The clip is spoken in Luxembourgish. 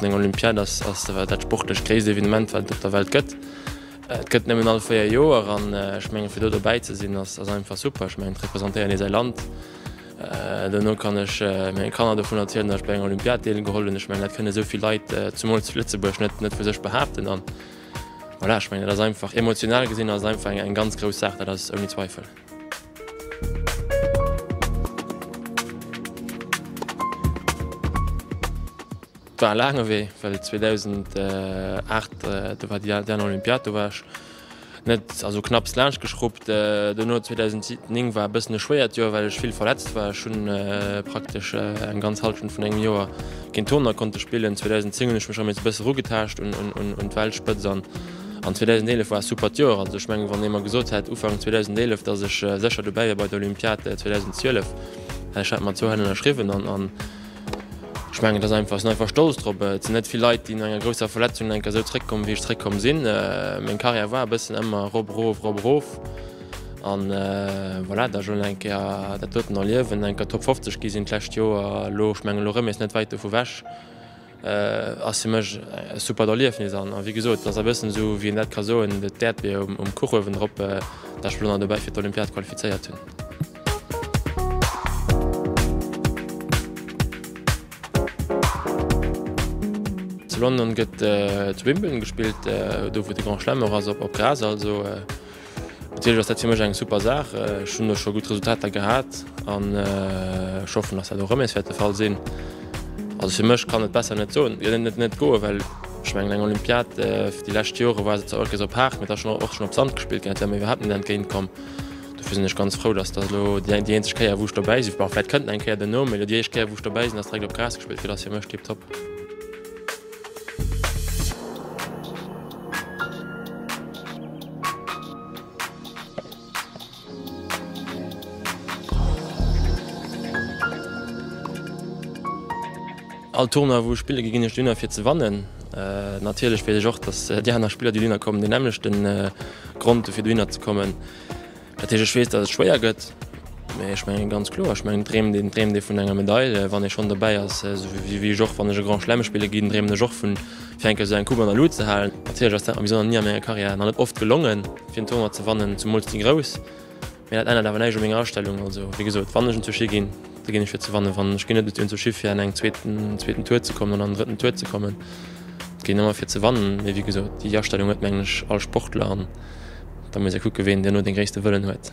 Eng Olympiad ass dat sportlech gréisst Evenement, wat et op der Welt gëtt. Et gëtt nëmmen all véier Joer an ech mengen, fir do dobäi ze sinn, ass einfach super. Ech mengen, et representéiert ee säi Land. Duerno kann ech menge Kanner dovun erzielen, datt ech bei enger Olympiad deelgeholl hunn. Ech mengen, dat kënne esou vill Leit, zumools zu Lëtzebuerg, net vu sech behaapten. An voilà, ech mengen, dat ass einfach, emotional gesinn ass et einfach eng ganz grouss Saach, dat ass ouni Zweifel. Et war e laange Wee, well 2008, do war déi dernier Olympiad, do war ech net, also knapps laanscht geschruppt. Duerno 2009 war e bëssen e schwéiert Joer, well ech vill verletzt war. Ech hunn praktesch eng ganz Hallschent vun engem Joer keen Turner konnte spillen. 2010 hunn ech mech erëm nees e bëssen erugetaascht un d'Weltspëtzt. An 2011 war e supert Joer. Also ech mengen, wann ee mer gesot hätt Ufank 2011, datt ech sécher dobäi wier bei der Olympiad 2012, hätt ech dat mat zwou Hänn ënnerschriwwen. An ech mengen, et ass einfach, ech sinn einfach stolz drop. Et sinn net vill Leit, déi no enger grousser Verletzung eng Kéier esou zréckkommen, wéi ech zréckkomm sinn. Meng Karriär war e bëssen ëmmer erop, erof, erop, erof. A voilà, da elo eng Kéier dat doten erliewen, eng Kéier Top 50 gi sinn d'lescht Joer, elo, ech mengen, elo rëmmen mir eis net wäit dovu wech. ass fir mech e supert Erliefnis an wéi gesot, et ass e bëssen esou wéi een dat ka soen, d'Äerdbier um Kuch uewendrop, datt ech mech elo nach dobäi fir d'Olympiad qualifizéiert hunn. Zu London gëtt zu Wimbledon gespillt, do wou de Grand Chelem och ass, op Gras also. Natierlech ass dat fir mech eng super Saach. Ech hunn do scho gutt Resultater gehat an ech hoffen, datt dat och erëm nees wäert de Fall sinn. Also fir mech kann et besser net soen. Et net net goen, well ech mengen eng Olympiad déi lescht Jore war se zwar och op haart, mee et ass schonn och schonn op Sand gespillt ginn. Dat wär mir iwwerhaapt net entgéint komm. Dofir sinn ech ganz frou, datt dat elo déi eng déi eenzeg Kéier wou ech dobäi sinn, bon vläicht kënnt nach eng Kéier den Numm, mee elo déi éischt Kéier wou ech dobäi sinn ass direkt op Gras gespillt ginn. Dat ass fir mech tipptopp. All Tournoi wou ech spille gi ginn ech dunner fir ze wannen. Natierlech weess ech och, datt déi aner Spiller déi dunner kommen deen nämmlechte Grond hu fir dohinner ze kommen. Dat heescht, ech weess, datt et schwéier gëtt, mä ech mengen ganz kloer, ech mengen, dreemt een, dreemt ee vun enger Medail, wann ee schonn dobäi ass, esou wéi ech och, wann ech e Grand Chelem spille ginn, dreemen ech och vu fir eng Kéier esou eng Coupe an der Luut ze halen. Natierlech ass dat mer bis elo nach ni a menger Karriär, nach net oft gelongen, fir en Tournoi ze wannen, zumools déi grouss, mä dat ännert awer näischt u menger Astellung. Also, wéi gesot, wann ech en zu Ski ginn. Do ginn ech fir ze wannen. Wann ech ginn net esou schiff fir an eng zweeten en zweeten Tour ze kommen an an drëtten Tour ze kommen. Et ginn ëmmer fir ze wannen. Mee wéi gesot, déi Astellung huet mengen ech all Sportler an da muss ee kucke ween duerno dee gréisste Wëllen huet.